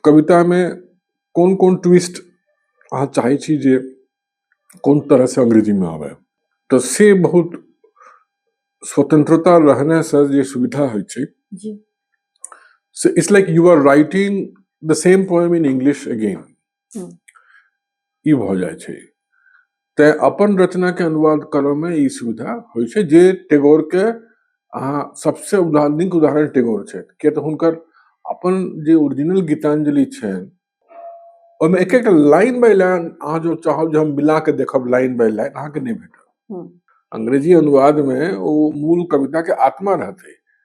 कवितामे कोन कोन ट्विस्ट अहाँ चाहै छी जे कोन तरहसँ अंग्रेजीमे आबय तऽ से बहुत स्वतंत्रता रहनेसँ जे सुविधा होइ छै से it's like you are writing the same poem in English again ई भऽ जाइ छै तैँ अपन रचनाके अनुवाद करऽमे ई सुविधा होइ छै जे टेगोरके अहाँ सबसँ उदा नीक उदाहरण टेगोर छथि किएक तऽ हुनकर अपन जे ओरिजिनल गीताञ्जलि छनि ओहिमे एक एकटा लाइन बाइ लाइन अहाँ जँ चाहब जे हम मिलाके देखब लाइन बाइ लाइन अहाँके नहि भेटत अंग्रेजी अनुवादमे ओ मूल कविताके आत्मा रहतै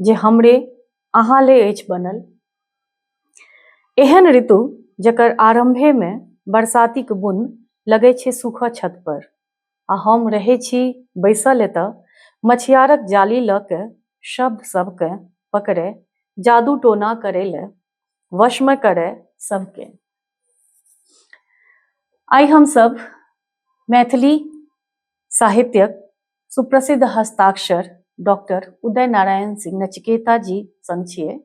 जे हमरे अहाँ ले अछि बनल एहन ऋतु जकर आरंभे में बरसाती के बुन लगे छे सुख छत पर आ हम रहे छी बैसल एत मछियारक जाली ल के शब्द सबके पकड़े जादू टोना करे ले वश में करे सबके आई हम सब मैथिली साहित्यक सुप्रसिद्ध हस्ताक्षर डॉक्टर उदय नारायण सिंह नचिकेता जी संग छिए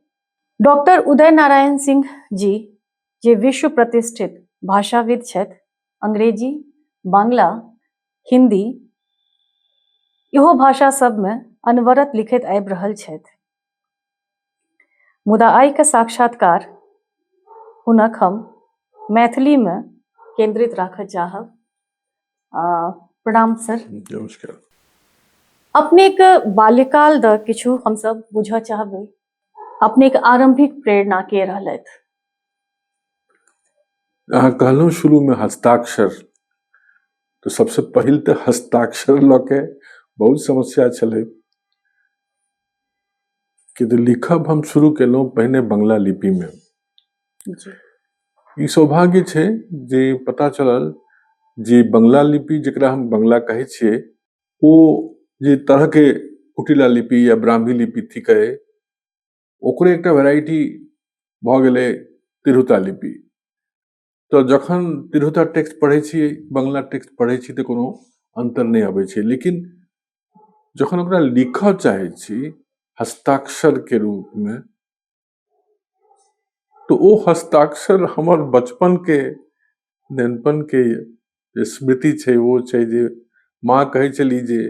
डॉक्टर उदय नारायण सिंह जी जे विश्व प्रतिष्ठित भाषाविद छथि अंग्रेजी बांग्ला हिंदी इहो भाषा सबमे अनवरत लिखित आबि रहल छथि मुदा आइके साक्षात्कार हुनक हम मैथिलीमे केंद्रित राखऽ चाहब प्रणाम सर नमस्कार अपने के बाल्यकाल द किछु हम सब बुझा चाहबे अपने के आरंभिक प्रेरणा के रहलत अहाँ कहलहुँ शुरू में हस्ताक्षर तो सबसे पहले तो हस्ताक्षर लऽ के बहुत समस्या छलै कि तो लिखब हम शुरू केलहुँ पहिने बंगला लिपि में जी ई सौभाग्य छै जे पता चलल जे बंगला लिपि जकरा हम बंगला कहै छियै ओ जे तरहके कुटिला लिपि या ब्राह्मी लिपि थिकै ओकरे एकटा वेराइटी भऽ गेलै तिरहुता लिपि तऽ जखन तिरहुता टेक्स्ट पढ़ै छी बंगला टेक्स्ट पढ़ै छी तऽ कोनो अन्तर नहि अबै छै लेकिन जखन ओकरा लिखऽ चाहै छी हस्ताक्षरके रूपमे तो वो हस्ताक्षर हमार बचपन के नेनपन के स्मृति छे वो छे जे माँ कहे चली जे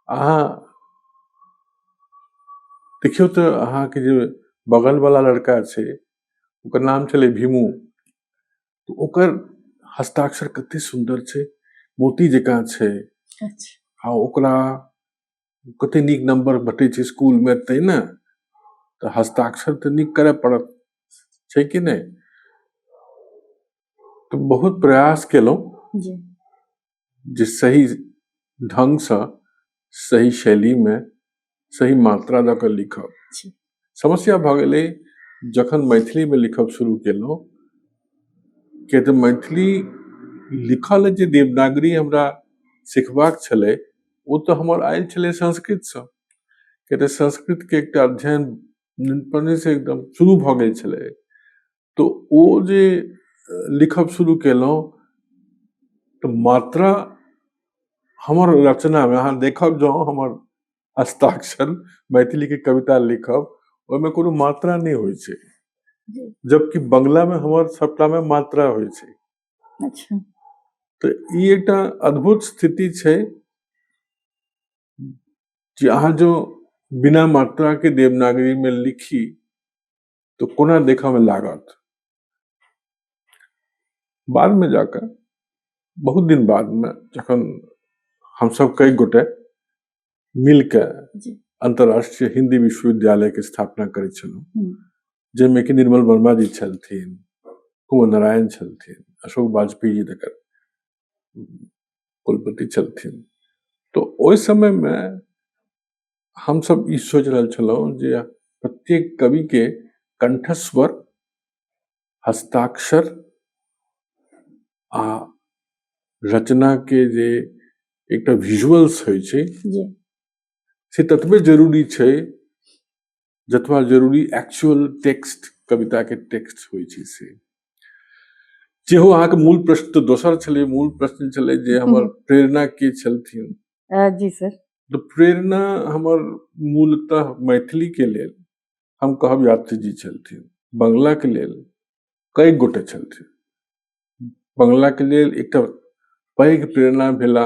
अहा देखियो तो अहा के जो बगल वाला लड़का छे ओकर नाम चले भीमू तो ओकर हस्ताक्षर कते सुंदर छे मोती जका छे अच्छा। आ ओकरा कते नीक नम्बर भेटै छै इसकुलमे तै ने तऽ हस्ताक्षर तऽ नीक करय पड़त छै कि नहि तऽ बहुत प्रयास केलहुँ जे सही ढङ्गसँ सही शैलीमे सही मात्रा दऽ कऽ लिखब समस्या भऽ गेलै जखन मैथिलीमे लिखब शुरू केलहुँ किए तऽ मैथिली लिखल जे देवनागरी हमरा सिखबाक छलै ओ तऽ हमर आयल छलै संस्कृतसँ किए तऽ संस्कृतके एकटा अध्ययन पहिनेसँ एकदम शुरू भऽ गेल छलै तऽ ओ जे लिखब शुरू केलहुँ तऽ मात्रा हमर रचनामे अहाँ देखब जँ हमर हस्ताक्षर मैथिली के कविता लिखब ओहिमे कोनो मात्रा नहि होइ छै जी। जबकि बंगला में हमर सबटा में मात्रा होइ छै अच्छा तऽ ई एकटा अद्भुत स्थिति छै जे अहाँ जो बिना मात्रा के देवनागरी में लिखी तो कोना देखा में लागत बाद में जाकर बहुत दिन बाद में जखन हम सब कई गोटे मिल के अंतर्राष्ट्रीय हिंदी विश्वविद्यालय के स्थापना करे हम्म। जैमे कि निर्मल वर्मा जी छलथिन कुमार नारायण छलथिन अशोक वाजपेयी जी तक कुलपति छलथिन तो ओहि समय में हमसब ई सोचि रहल छलहुँ जे प्रत्येक कविके कण्ठस्वर हस्ताक्षर आओर रचनाके जे एकटा विजुअल्स होइ छै से ततबे जरूरी छै जतबा जरूरी एक्चुअल टेक्स्ट कविताके टेक्स्ट होइ छै से जेहो अहाँके मूल प्रश्न तऽ दोसर छलै मूल प्रश्न छलै जे हमर प्रेरणा के छलथिन जी सर तऽ प्रेरणा हमर मूलतः मैथिलीके लेल हम कहब यात्री जी छलथिन बंगलाके लेल कई गोटे छलथिन बंगलाके लेल एकटा पैघ प्रेरणा भेला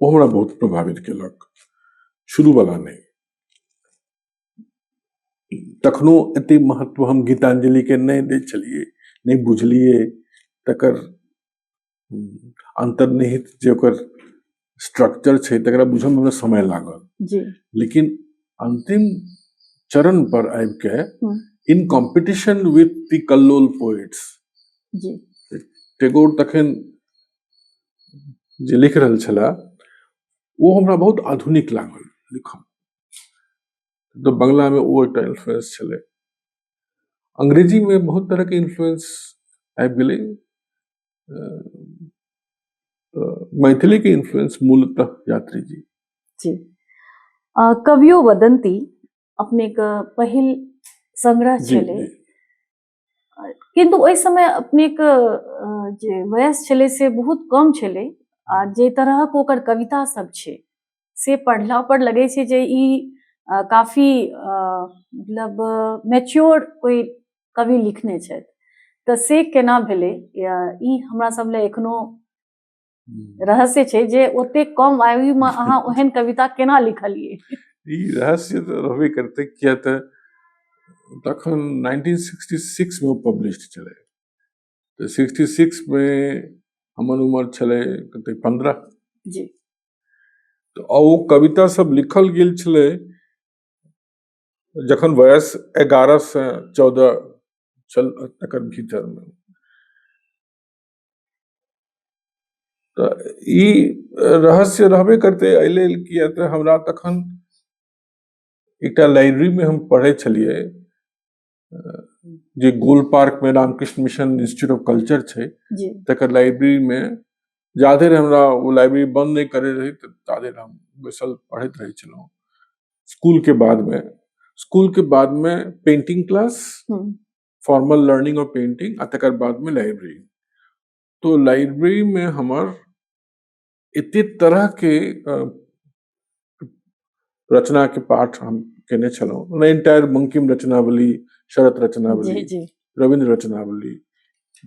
ओ हमरा बहुत प्रभावित केलक शुरू वाला नहि तखनो एते महत्व हम गीतांजलि के नहि दै छलियै नहि बुझलियै तकर अंतर्निहित जे ओकर स्ट्रक्चर छै तकरा बुझऽ में हमरा समय लागल जी लेकिन अंतिम चरण पर आबि के in competition with the Kallol poets जी टेगोर तखन जे लिख रहल छला ओ हमरा बहुत आधुनिक लागल लिखऽ में तऽ बंगला में ओ एकटा इन्फ्लुएंस छलै अंग्रेजी में बहुत तरह के इन्फ्लुएंस आबि गेलै मैथिली के इन्फ्लुएंस मूलतः यात्री जी जी कवियो वदंती अपने के पहिल संग्रह छलै किन्तु ओहि समय अपनेक जे वयस छलै से बहुत कम छलै आ जे तरहक ओकर कविता सब छै से पढ़ला पर लगै छै जे ई काफी मतलब मैच्योर कोई कवि लिखने छथि तऽ से केना भेलै ई हमरा सब लए एखनो रहस्य छै जे ओते कम आयु में अहाँ ओहन कविता केना लिखलिए ई रहस्य तऽ रहबे करते किया तऽ तखन 1966 में पब्लिश छलै तऽ 66 में हमर उम्र छलै कते 15 जी तऽ ओ कविता सब लिखल गेल छलै जखन वयस 11 से 14 छल तकर भीतर में तऽ ई रहस्य रहबे करतै एहि लेल किए तऽ हमरा तखन एकटा लाइब्रेरीमे हम पढ़ै छलियै जे गोल पार्कमे Ramakrishna mission institute of culture छै तकर लाइब्रेरीमे जाधरि हमरा ओ लाइब्रेरी बन्द नहि करै रहै ताधरि हम बैसल पढ़ैत रहै छलहुँ स्कूलके बादमे स्कूलके बादमे पेंटिंग क्लास फॉर्मल लर्निंग और पेंटिंग आ तकर बाद में लाइब्रेरी तो लाइब्रेरी में हमर एते तरह के रचना के पाठ हम केने छलहुँ एंटायर बंकिम रचनावली शरत रचनावली रविन्द्र रचनावली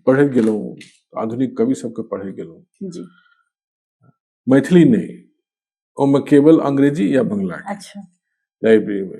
पढ़े गेलहुँ आधुनिक कवि सबके पढ़े गेलहुँ मैथिली नहीं ओहिमे केवल अंग्रेजी या बंगला अच्छा लाइब्रेरी में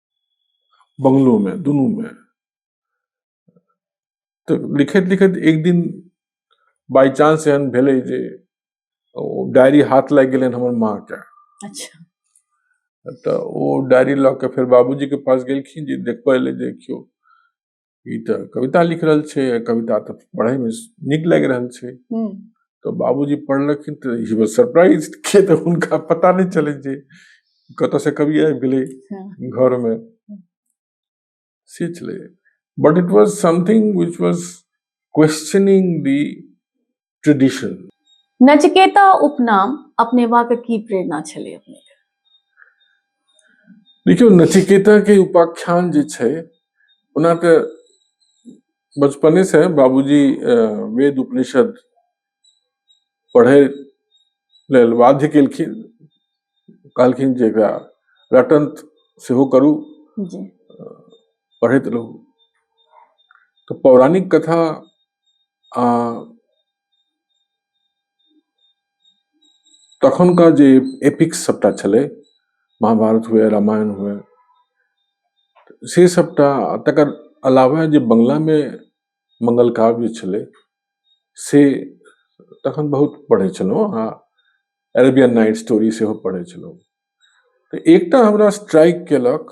बंगलो में दुनू में तऽ लिखैत लिखैत एक दिन बाई चांस एहन भेलै जे ओ डायरी हाथ लागि गेलनि हमर माँ के अच्छा तऽ ओ डायरी लऽ के फेर बाबूजी के पास गेलखिन जे देखबै लए देखियौ ई तऽ कविता लिख रहल छै आ कविता तऽ पढ़ैमे नीक लागि रहल छै हम्म, तऽ बाबूजी पढ़लखिन तऽ ही वाज सरप्राइज के तऽ हुनका पता नहि चलै जे कतऽ से कवि आबि गेलै हाँ, घर में से छलै but it was something which was questioning the tradition Nachiketa उपनाम अपने बाके की प्रेरणा छले अपने देखियो नचिकेता के उपाख्यान जे छै ओना तऽ बचपने से बाबूजी वेद उपनिषद पढ़े लेल बाध्य केलखिन कहलखिन जे एकरा रटन सेहो करू पढ़ैत रहू तऽ पौराणिक कथा तखनका जे एपिक्स सभटा छलै महाभारत हुए रामायण हुए से सभटा तकर अलावा जे बंगलामे मंगल काव्य छलै से तखन बहुत पढ़ै छलहुँ आ अरेबियन नाइट स्टोरी सेहो पढ़ै छलहुँ तऽ एकटा हमरा स्ट्राइक केलक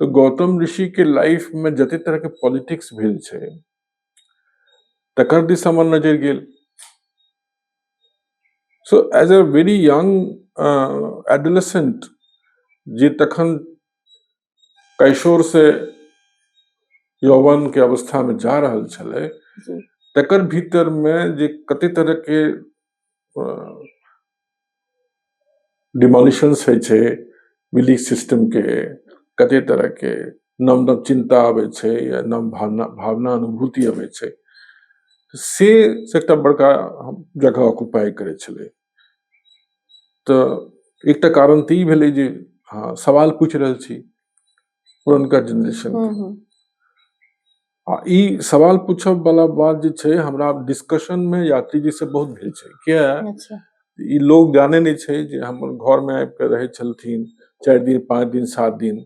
तऽ गौतम ऋषि के लाइफ में जते तरह के पॉलिटिक्स भेल छै तकर दिस हमर नजर गेल so as a very young adolescent जे तखन कैशोर से यौवन के अवस्था में जा रहल छलै जी तकर भीतर में जे कते तरह के डिमोलिशंस होइ छै बिलीफ सिस्टमके कते तरहके नव नव चिन्ता अबै छै या नव भावना भावना अनुभूति अबै छै से एकटा बड़का जगह ऑक्युपाई करै छलै तऽ एकटा कारण तऽ ई भेलै जे हँ सवाल पूछि रहल छी पुरनका जनरेशन हम्म, हम्म। आ ई सवाल पूछब वाला बात जे छै हमरा डिस्कशन में यात्री जी से बहुत भेल छै किया अच्छा ई लोग जाने नहि छै जे हमर घर में आबि कऽ रहै छलथिन चारि दिन पाँच दिन सात दिन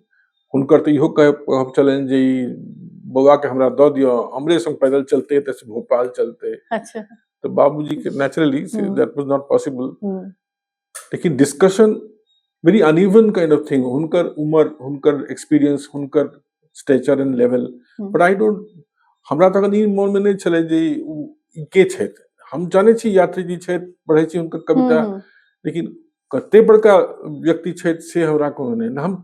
हुनकर तऽ इहो कह कहब छलनि जे ई बौआ के हमरा दऽ दिअ हमरे संग पैदल चलते एतऽ से भोपाल चलते अच्छा तऽ बाबूजी के naturally hmm. That was not possible hmm, लेकिन discussion very uneven kind of thing हुनकर उम्र हुनकर एक्सपीरियंस हुनकर stature and level but I don't हमरा तखन ई मोन में नहीं छले जे ई के छथि हम जाने छी यात्री जी छथि पढ़े छी हुनकर कविता हम्म। लेकिन कते बड़का व्यक्ति छथि से हमरा कोनो नहीं हम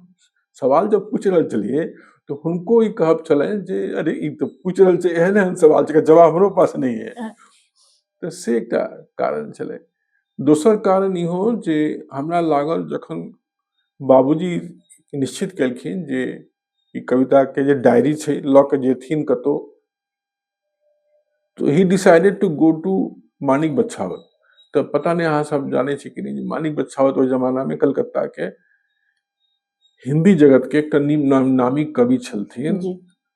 सवाल जब पूछ रहे चलिए तो हुनको ई कहब छले जे अरे ई तो पूछ रहे एहन एहन सवाल जवाब हमरो पास नहीं है तो से कारण छले दोसर कारण इहो जे हमरा लागल जखन बाबूजी निश्चित केलखिन जे ई कविताके जे डायरी छै लऽ कऽ जेथिन कतहु तऽ ही decided to go to Manik Bachhawat तऽ पता नहि अहाँ सब जानै छी कि नहि जे मानिक बछावत ओहि जमानामे कलकत्ताके हिंदी जगतके एकटा नामी कवि छलथिन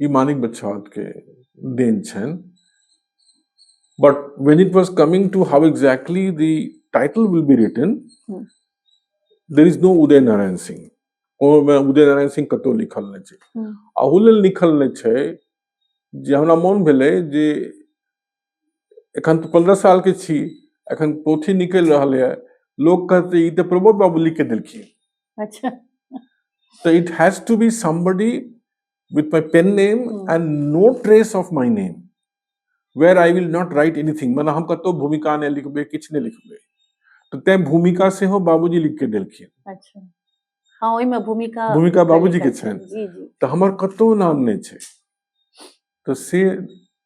ई मानिक बछावत के देन छनि but when it was coming to how exactly the title will be written there is no Uday Narayan Singh ओहिमे उदय नारायण सिंह कतहु लिखल नहि छै अहू लेल लिखल नहि छै जे हमरा मोन भेलै जे एखन तऽ पन्द्रह सालके छी एखन पोथी निकलि रहल यऽ लोक कहतै ई तऽ प्रमोद बाबू लिख के देलखिन अच्छा So it has to be somebody with my pen name Hmm. and no trace of my name, where I will not write anything. मतलब हम कतौ भूमिका नहि लिखबै किछु नहि लिखबै तऽ तैं भूमिका सेहो बाबूजी लिख के देलखिन अच्छा हाँ ओहिमे भूमिका भूमिका बाबूजी के छनि। जी जी तऽ हमर कतौ नाम नहि छै तऽ से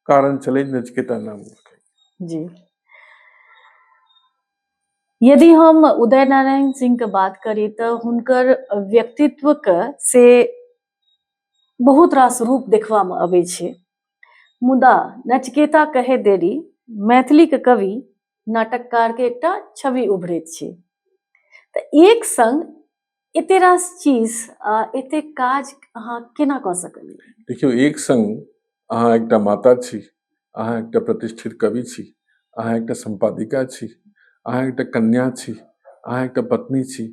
कारण छलै नचिकेता नाम जी यदि हम उदय नारायण सिंह के बात करी तऽ हुनकर व्यक्तित्व के से बहुत रास रूप देखबा में अबै छै मुदा नचकेता कहे देरी मैथिली के कवि नाटककार के एकटा छवि उभरैत छै तऽ एक संग एते रास चीज एते काज अहाँ केना कऽ सकलियै देखियौ एक संग अहाँ एकटा माता छी अहाँ एकटा प्रतिष्ठित कवि छी अहाँ एकटा सम्पादिका छी अहाँ एकटा कन्या छी अहाँ एकटा पत्नी छी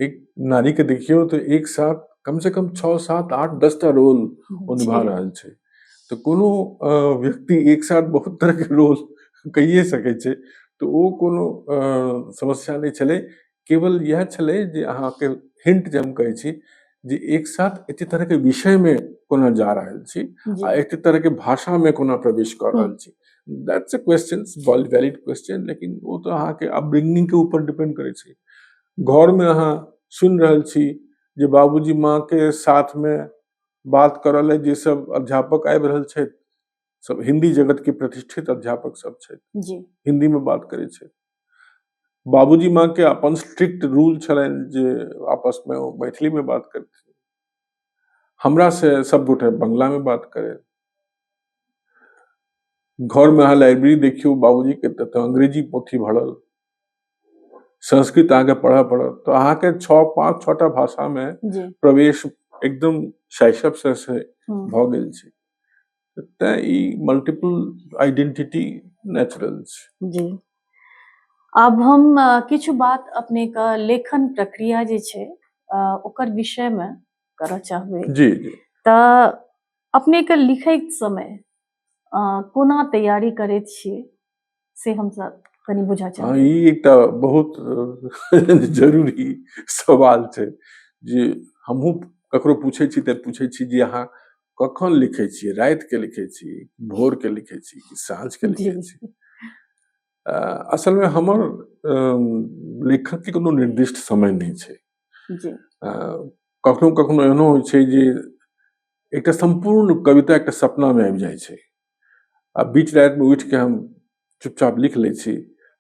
एक नारी के देखियौ तो एक साथ कम से कम छओ सात आठ दस टा रोल ओ निभा रहल छै तो कोनो व्यक्ति एक साथ बहुत तरह के रोल कहिए सकै छै तो ओ कोनो समस्या नहि छलै केवल इएह छलै जे अहाँके हिंट जे हम कहै छी जे एक साथ एते तरह के विषय में कोना जा रहल छी जी आ एते तरह के भाषा में कोना प्रवेश कर रहल छी that's a question valid question लेकिन वो तो अहाँके अपब्रिंगिंग के ऊपर डिपेंड करै छै घर में अहाँ सुनि रहल छी जे बाबूजी माँ के साथ में बात करऽ लेल जे सब अध्यापक आबि रहल छथि सब हिंदी जगत के प्रतिष्ठित अध्यापक सब छै जी हिंदी में बात करे छै बाबूजी माँ के अपन स्ट्रिक्ट रूल छलन जे आपस में ओ मैथिली में बात करते हमरा से सब गोटे बंगला में बात करे घर में अहाँ लाइब्रेरी देखियो बाबूजी के त अंग्रेजी पोथी भरल संस्कृत अहाँके पढ़य पड़त तऽ अहाँके छओ पाँच छओटा भाषामे प्रवेश एकदम शैशव से भऽ गेल छै तैं ई मल्टीपल आइडेंटिटी नेचुरल छै जी आब हम किछु बात अपने के लेखन प्रक्रिया जे छै ओकर विषय में करऽ चाहबै जी जी तऽ अपने के लिखैत समय कोना तैयारी करैत छियै से हमसब कनि बुझऽ चाहब हाँ ई एकटा बहुत जरूरी सवाल छै जे हमहूँ ककरो पूछै छी तऽ पूछै छी जे अहाँ कखन लिखै छियै रातिके लिखै छी भोरके लिखै छी कि साँझके लिखै छी असलमे हमर लेखकके कोनो निर्दिष्ट समय नहि छै कखनो कखनो एहनो होइ छै जे एकटा सम्पूर्ण कविता एकटा सपनामे आबि जाइ छै आ बीच रातिमे उठिके हम चुपचाप लिख लै छी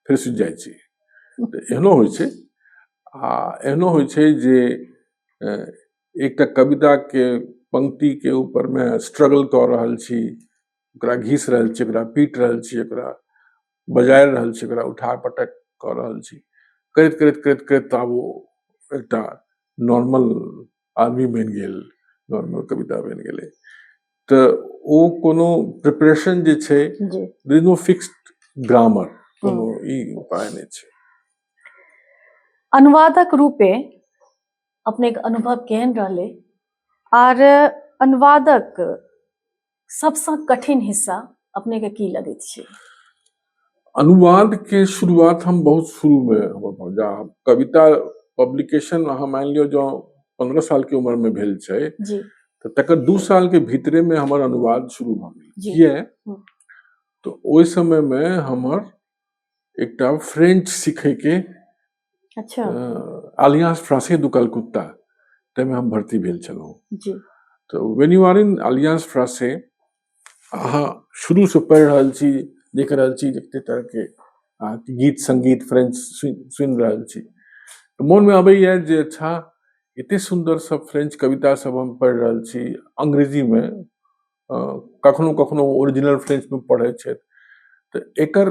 फेर सुति जाइ छी तऽ एहनो होइ छै आ एहनो होइ छै जे एकटा कविताके पंक्तिके ऊपरमे स्ट्रगल कऽ रहल छी ओकरा घीस रहल छी ओकरा पीट रहल छी ओकरा बजाय रहल छी ओकरा उठा पटक कऽ रहल छी करैत करैत करैत करैत तऽ आब ओ एकटा नॉर्मल आदमी बनि गेल घरमे कविता बनि गेलै तऽ ओ कोनो प्रिपरेशन जे छै देर नो फिक्स्ड ग्रामर कोनो ई उपाय नहि छै अनुवादक रूपे अपनेके अनुभव केहन रहलै आर अनुवादक सबसँ कठिन हिस्सा अपनेके की लगैत छै अनुवादके शुरुआत हम बहुत शुरूमे जा कविता पब्लिकेशन अहाँ मानि लियौ जँ पन्द्रह सालके उम्रमे भेल छै तऽ तकर दू सालके भीतरेमे हमर अनुवाद शुरू भऽ गेल किए हम्म। तऽ ओहि समयमे हमर एकटा फ्रेंच सीखयके अच्छा आलियांस फ्रांसे दु कलकत्ता ताहिमे हम भर्ती भेल छलहुँ जी तऽ when you are in Alliance Francaise अहाँ शुरूसँ पढ़ि रहल छी देख रहल छी जतेक तरहके अहाँके गीत संगीत फ्रेंच सुनि रहल छी तऽ मोनमे अबैए जे अच्छा एतेक सुन्दर सब फ्रेंच कविता सब हम पढ़ि रहल छी अंग्रेजीमे कखनो कखनो ओरिजिनल फ्रेंचमे पढ़ै छथि तऽ एकर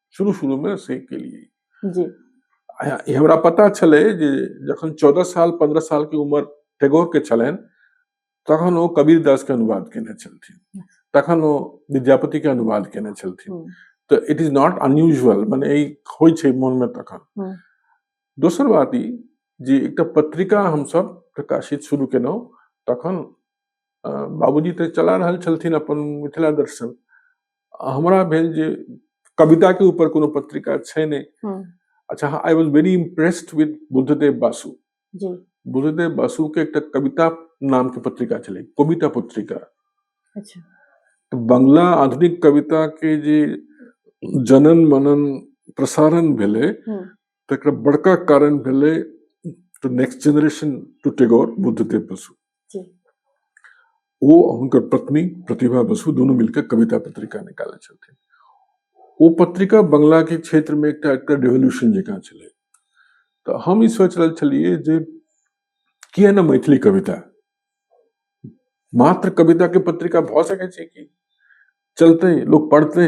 शुरू शुरू में से के लिए जी हमरा पता छले जे जखन चौदह साल पंद्रह साल के उम्र टैगोर के छलन तखन वो कबीर दास के अनुवाद केने छलथिन तखन वो विद्यापति के अनुवाद केने छलथिन hmm. So it is not unusual माने ई होइ छै मन में तखन हम्म। दोसर बात ई जे एकटा पत्रिका हम सब प्रकाशित शुरू केलहुँ तखन बाबूजी तऽ चला रहल छलथिन अपन मिथिला दर्शन हमरा भेल जे कविता के ऊपर कोनो पत्रिका छै ने हम्म। अच्छा हाँ I was very impressed with Buddhadeb Basu Buddhadeb Basu के एक कविता नाम के पत्रिका चले कविता पत्रिका अच्छा तो बंगला आधुनिक कविता के जे जनन मनन प्रसारण भेले हम्म। तक बड़का कारण भेले to next generation to Tagore Buddhadev Basu ओ हुनकर पत्नी प्रतिभा बसु दुनू मिलकर कविता पत्रिका निकालै छलखिन ओ पत्रिका बंगलाके क्षेत्रमे एकटा एकटा रेवोल्यूशन जकाँ छलै तऽ हम ई सोचि रहल छलियै जे किए ने मैथिली कविता मात्र कविताके पत्रिका भऽ सकै छै कि चलतै लोक पढ़तै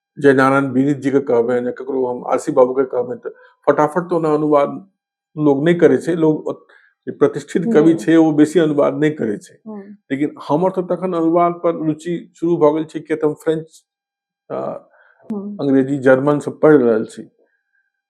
जय नारायण बीरित जी के कहबे या ककरो हम आशी बाबू के कहबे तऽ फटाफट तो ना अनुवाद लोग नहि करे छै लोग प्रतिष्ठित कवि छै ओ बेसी अनुवाद नहि करे छै लेकिन हमर तऽ तखन अनुवाद पर रुचि शुरू भऽ गेल छै किया तऽ हम फ्रेंच अंग्रेजी जर्मन से पढ़ि रहल छी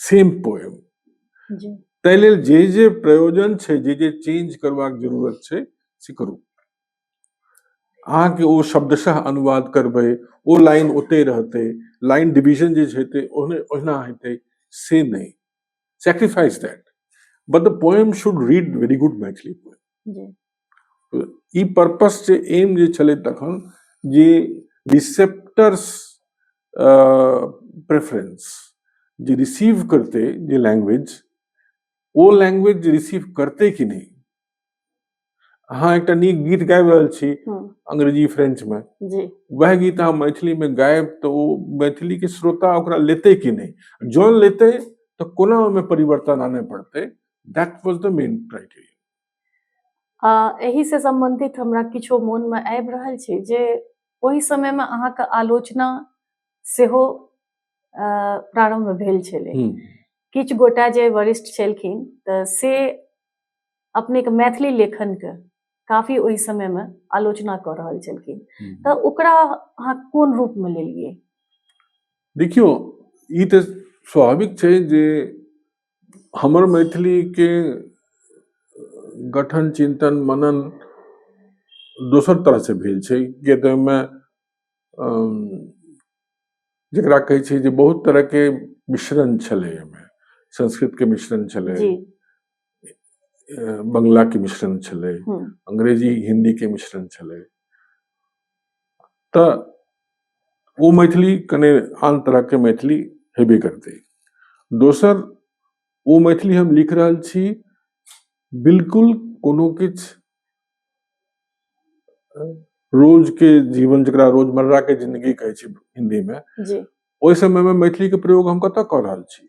सेम पोएम ताहि लेल जे जे प्रयोजन छै जे जे चेंज करबाक जरूरत छै से करू अहाँके ओ शब्दशः अनुवाद करबै ओ लाइन ओते रहतै लाइन डिवीजन जे छै ओहने ओहिना हेतै से नहि sacrifice that but the poem should read very good Maithili poem ई पर्पस जे एम जे छलै तखन जे रिसेप्टर्स प्रेफरेंस जे रिसीव करते जे लैंग्वेज ओ लैंग्वेज जे रिसीव करते कि नहि अहाँ एकटा नीक गीत गाबि रहल छी अंग्रेजी फ्रेंच मे वएह गीत अहाँ मैथिली मे गायब तऽ ओ मैथिली के श्रोता ओकरा लेते कि नहि जौन लेते तऽ कोना ओहिमे परिवर्तन आनय पड़तै that was the main criteria आ एहिसँ सम्बन्धित हमरा किछो मोनमे आबि रहल छै जे ओहि समयमे अहाँके आलोचना सेहो प्रारम्भ भेल छलै किछु गोटा जे वरिष्ठ छलखिन तऽ से अपनेके मैथिली लेखनके काफी ओहि समयमे आलोचना कऽ रहल छलखिन तऽ ओकरा अहाँ कोन रूपमे लेलियै देखियौ ई तऽ स्वाभाविक छै जे हमर मैथिलीके गठन चिन्तन मनन दोसर तरहसँ भेल छै किएक तऽ ओइमे जकरा कहै छै जे बहुत तरहके मिश्रण छलै ओइमे संस्कृतके मिश्रण छलै बंगलाके मिश्रण छलै अंग्रेजी हिन्दीके मिश्रण छलै तऽ ओ मैथिली कने आन तरहके मैथिली हेबे करतै दोसर ओ मैथिली हम लिख रहल छी बिलकुल कोनो किछु रोजके जीवन जकरा रोजमर्राके जिन्दगी कहै छै हिन्दीमे ओहि समयमे मैथिलीके प्रयोग हम कतय कऽ रहल छी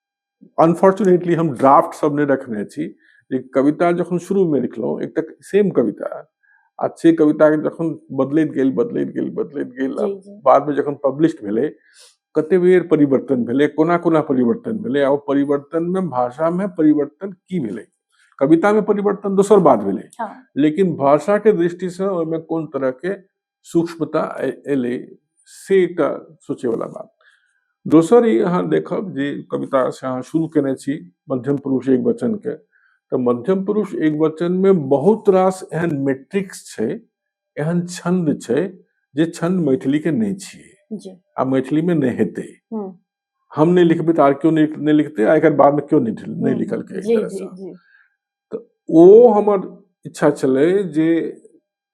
अनफॉर्चुनेटली हम ड्राफ्ट सब ने रखने छी जे कविता जखन शुरू में लिखलो एक तक सेम कविता आ से कविता के जखन बदलैत गेल बदलैत गेल बदलैत गेल जी, जी। बाद में जखन पब्लिश्ड भेलै कते बेर परिवर्तन भेलै कोना कोना परिवर्तन भेलै आ ओ परिवर्तन में भाषा में परिवर्तन की भेलै कविता में परिवर्तन दोसर बात भेलै हाँ लेकिन भाषा के दृष्टि से ओहिमे कोन तरह के सूक्ष्मता एलै से एकटा सोचैवला बात दोसर ई अहाँ देखब जे कविता से अहाँ शुरू केने छी मध्यम पुरुष एक वचन के तऽ मध्यम पुरुष एक वचन मे बहुत रास एहन मेट्रिक्स छै एहन छंद छै जे छंद मैथिली के नहि छियै आ मैथिली मे नहि हेतै हम नहि लिखबै तऽ आर केओ नहि लिखतै आ एकर बाद मे केओ नहि लिखलकै तऽ ओ हमर इच्छा छलै जे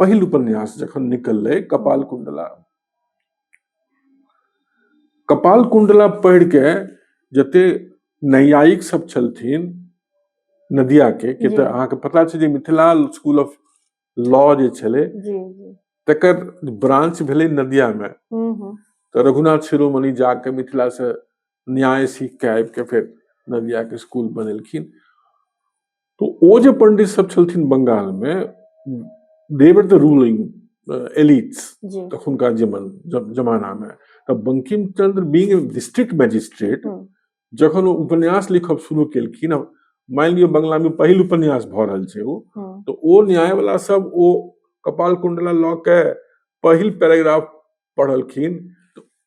पहिल उपन्यास जखन निकललै कपाल कुंडला कपाल कुंडला पढ़ि के जते नैयायिक सब छलथिन नदिया के के तऽ अहाँके पता छै जे मिथिला स्कूल ऑफ लॉ जे छलै तकर ब्रांच भेलै नदिया मे तऽ रघुनाथ शिरोमणि जाके मिथिला से न्याय सीख के आबि के फेर नदिया के स्कूल बनेलखिन तऽ ओ जे पंडित सब छलथिन बंगाल मे देवर द रूलिंग एलिट्स तखुनका जमन जमाना मे तऽ Bankim Chandra being district magistrate जखन ओ उपन्यास लिखब शुरू केलखिन मानि लियौ बंगला मे पहिल उपन्यास भऽ रहल छै ओ तऽ ओ न्याय वाला सब ओ कपाल कुंडला लऽ के पहिल पैराग्राफ पढ़लखिन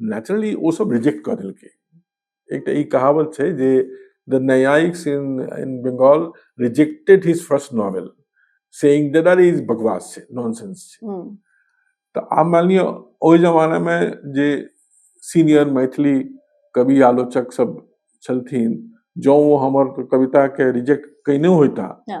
नेचुरली ओ सब रिजेक्ट कऽ देलकै एकटा ई कहावत छै जे द न्यायिक्स in in Bengal rejected his first novel saying that are is बकवास छै नॉनसेंस छै हम्म। तऽ आब मानि लिअ ओहि जमानामे जे सीनियर मैथिली कवि आलोचक सब छलथिन जँ ओ हमर कविताके रिजेक्ट कयने होइता हँ।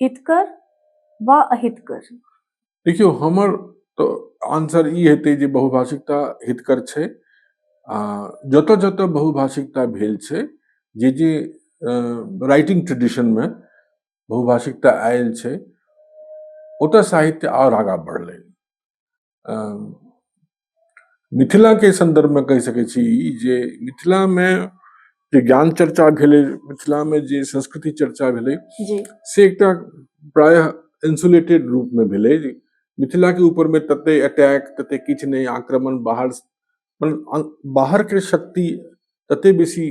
हितकर वा अहितकर देखियौ हमर तऽ आंसर ई हेतै जे बहुभाषिकता हितकर छै आ जतऽ जतऽ बहुभाषिकता भेल छै जे जे राइटिंग ट्रेडिशनमे बहुभाषिकता आयल छै ओतऽ साहित्य आओर आगाँ बढ़लै मिथिलाके सन्दर्भमे कहि सकै छी ई जे मिथिलामे जे ज्ञान चर्चा भेलै मिथिलामे जे संस्कृति चर्चा भेलै से एकटा प्रायः इंसुलेटेड रूपमे भेलै मिथिलाके ऊपरमे तते अटैक तते किछु नहि आक्रमण बाहर बाहरके शक्ति तते बेसी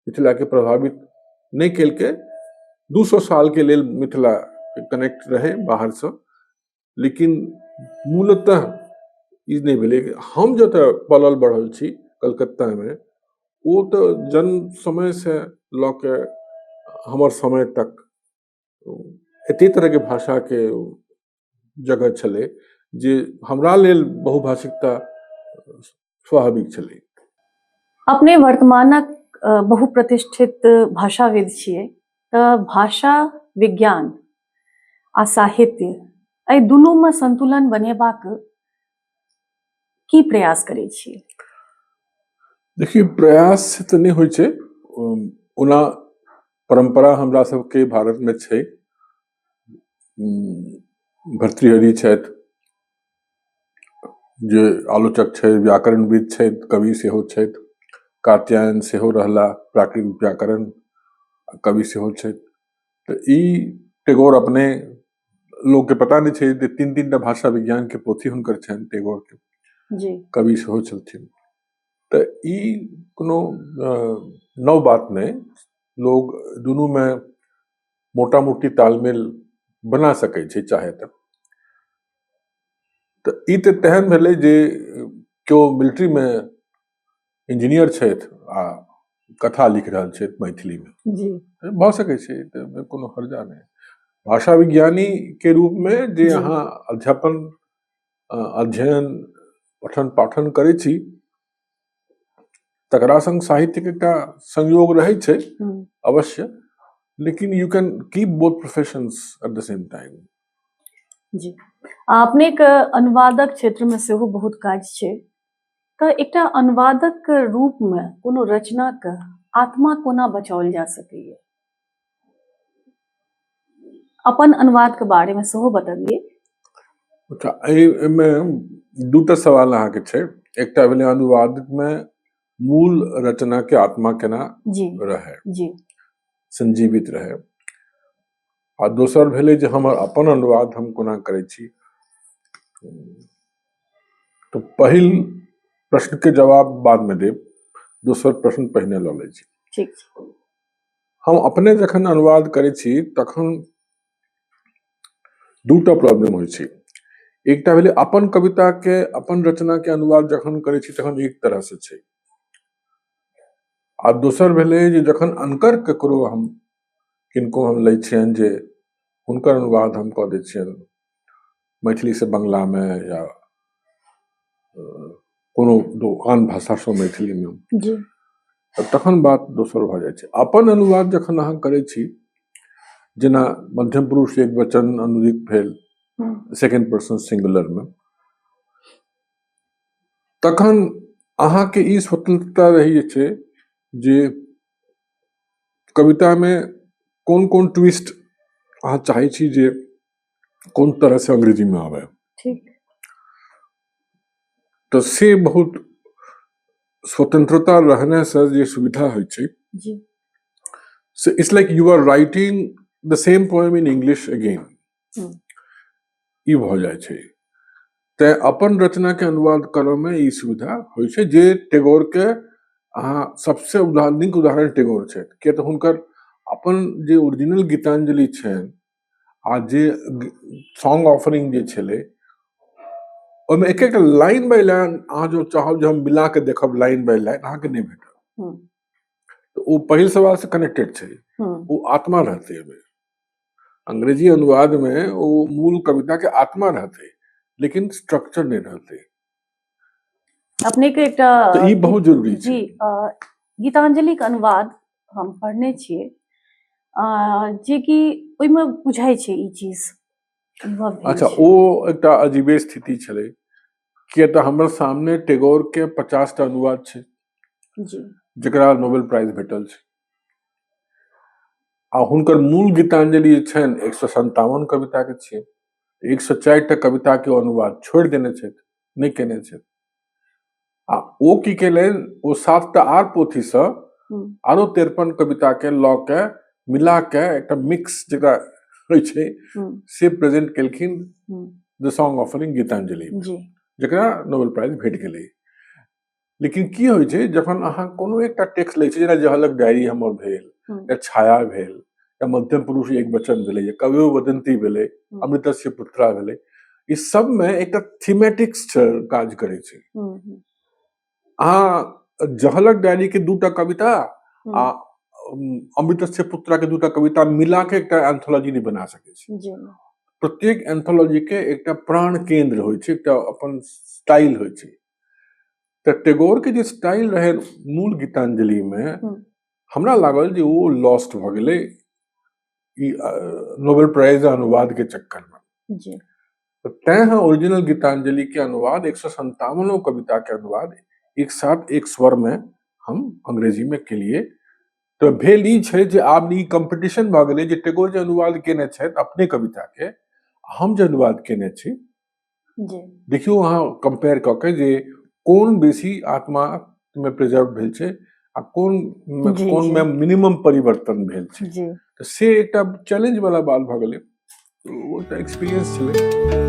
मिथिलाके प्रभावित नहि केलकै दू सए सालके लेल मिथिला कनेक्ट रहै बाहरसँ लेकिन मूलतः ई नहि भेलै हम जतऽ पलल बढ़ल छी कलकत्तामे ओ तऽ जन्म समयसँ लऽ कऽ हमर समय तक एते तरहके भाषाके जगह छलै जे हमरा लेल बहुभाषिकता स्वाभाविक छलै अपने वर्तमानक बहुप्रतिष्ठित भाषाविद छियै तऽ भाषा विज्ञान आ साहित्य एहि दुनूमे संतुलन बनेबाक की प्रयास करै छी देखिए प्रयास तऽ नहि होइ छै ओना परम्परा हमरा सबके भारतमे छै भर्तृहरि छथि जे आलोचक छथि व्याकरणविद छथि कवि सेहो छथि कात्यायन सेहो रहला प्राकृतिक व्याकरण कवि सेहो छथि तऽ ई टेगोर अपने लोकके पता नहि छै जे तीन तीन टा भाषा विज्ञानके पोथी हुनकर छनि टेगोरके कवि सेहो छलथिन तऽ ई कोनो नव बात नहि लोग दुनूमे मोटा मोटी तालमेल बना सकै छै चाहे तऽ तऽ ई तऽ तेहन भेलै जे केओ मिलिट्रीमे इंजीनियर छथि आ कथा लिख रहल छथि मैथिलीमे भऽ सकै छै ताहिमे कोनो हर्जा नहि भाषा विज्ञानीके रूपमे जे अहाँ अध्यापन अध्ययन पठन पाठन करै छी तकरा संग साहित्य के एकटा संयोग रहै छै हम्म, अवश्य लेकिन you can keep both professions at the same time जी आ अपने के अनुवादक क्षेत्र में सेहो बहुत काज छै तऽ एकटा अनुवादक के रूप में कोनो रचना के आत्मा कोना बचाओल जा सकैए अपन अनुवादके बारेमे सेहो बतबियै अच्छा एहिमे दूटा सवाल अहाँके छै एकटा भेलै अनुवादमे मूल रचनाके आत्मा केना रहै जी संजीवित रहै आ दोसर भेलै जे हमर अपन अनुवाद हम कोना करै छी तऽ पहिल प्रश्नके जवाब बादमे देब दोसर प्रश्न पहिने लऽ लै छी ठीक छै हम अपने जखन अनुवाद करै छी तखन दूटा प्रॉब्लम होइ छै एकटा भेलै अपन कविता के अपन रचना के अनुवाद जखन करै छी तखन एक तरह से छै आ दोसर भेलै जे जखन अनकर ककरो हम किनको हम लै छियनि जे हुनकर अनुवाद हम कऽ दै छियनि मैथिलीसँ बंगलामे या कोनो दो आन भाषासँ मैथिलीमे जी तऽ तखन बात दोसर भऽ जाइ छै अपन अनुवाद जखन अहाँ करै छी जेना मध्यम पुरुष एक वचन अनुदित भेल हम्म, सेकेंड पर्सन सिंगुलरमे तखन अहाँके ई स्वतंत्रता रहै छै जे कवितामे कोन कोन ट्विस्ट अहाँ चाहै छी जे कोन तरह से अंग्रेजी में आवे ठीक तो से बहुत स्वतंत्रता रहने से जे सुविधा होइ छै जी So it's like you are writing the same poem in English again. Hmm. ई भऽ जाइ छै तैं अपन रचना के अनुवाद करय में ई सुविधा होइ छै जे टैगोर के अहाँ सबसे उदाहरण नीक उदाहरण टैगोर छथि किया तऽ हुनकर अपन जे ओरिजिनल गीतांजलि छनि आ जे सॉन्ग ऑफरिंग जे छलै ओहिमे एक एक लाइन बाय लाइन अहाँ जो चाहब जे हम मिला के देखब लाइन बाय लाइन अहाँके नहि भेटत हम्म। तऽ ओ पहिल सवाल से कनेक्टेड छै हम्म, ओ आत्मा रहतै ओहिमे अंग्रेजी अनुवाद मे ओ मूल कविता के आत्मा रहतै लेकिन स्ट्रक्चर नहि रहतै अपने के एकटा तऽ ई बहुत जरूरी छै जी अ, गीतांजलिक अनुवाद हम पढ़ने छियै जेकि ओहिमे बुझाइ छै ई चीज अच्छा ओ एकटा अजीबे स्थिति छलै किए तऽ हमर सामने टेगोर के पचास टा अनुवाद छै जकरा नोबेल प्राइज भेटल छै आ हुनकर मूल गीतांजलि जे छनि एक सए सन्तावन कविताके छियै एक सए चारि टा कविताके अनुवाद छोड़ि देने छथि नहि केने छथि आ ओ की केलनि ओ सातटा आर पोथीसँ आरो तिरपन कविताके लऽ के मिला के एकटा मिक्स जकरा होइ छै से प्रेजेंट केलखिन द सॉन्ग ऑफरिंग गीतांजलि जकरा नोबेल प्राइज भेट गेलै लेकिन की होइ छै जखन अहाँ कोनो एकटा टेक्स्ट लै छी जेना जहलक डायरी हमर भेल हम्म। या छाया भेल या मध्यम पुरुष एक वचन भेलै या कवि वदंती भेलै हम्म। अमृतस्य पुत्रा भेलै ई सबमे एकटा थीमेटिक्स काज करै छै हम्म, अहाँ जहलक डायरी के दूटा कविता आ अमृतस्य पुत्रा के दूटा कविता मिला के एकटा एंथोलॉजी नहीं बना सके छी प्रत्येक एंथोलॉजी के एकटा प्राण केंद्र होइ छै एकटा अपन स्टाइल होइ छै तऽ टेगोर के जे स्टाइल रहे मूल गीतांजलि में हम्म। हमरा लागल जे वो लॉस्ट भ गेले ई अ, नोबेल प्राइज आ अनुवाद के चक्कर में जी तो तैं हम ओरिजिनल गीतांजलि के अनुवाद एक सौ संतावनों कविता के अनुवाद एक साथ एक स्वर में हम अंग्रेजी में के लिए तो भेल ई छै जे आब ई कंपटीशन भऽ गेलै जे टेगोर जे अनुवाद केने छथि अपने कविता के हम जे अनुवाद केने छी देखियौ अहाँ कम्पेयर कऽ के जे कोन बेसी आत्मा मे प्रिजर्व भेल छै आ कोन कोन मे मिनिमम परिवर्तन भेल छै तऽ से एकटा चैलेंज वाला बात भऽ गेलै ओ एकटा एक्सपीरियंस छलै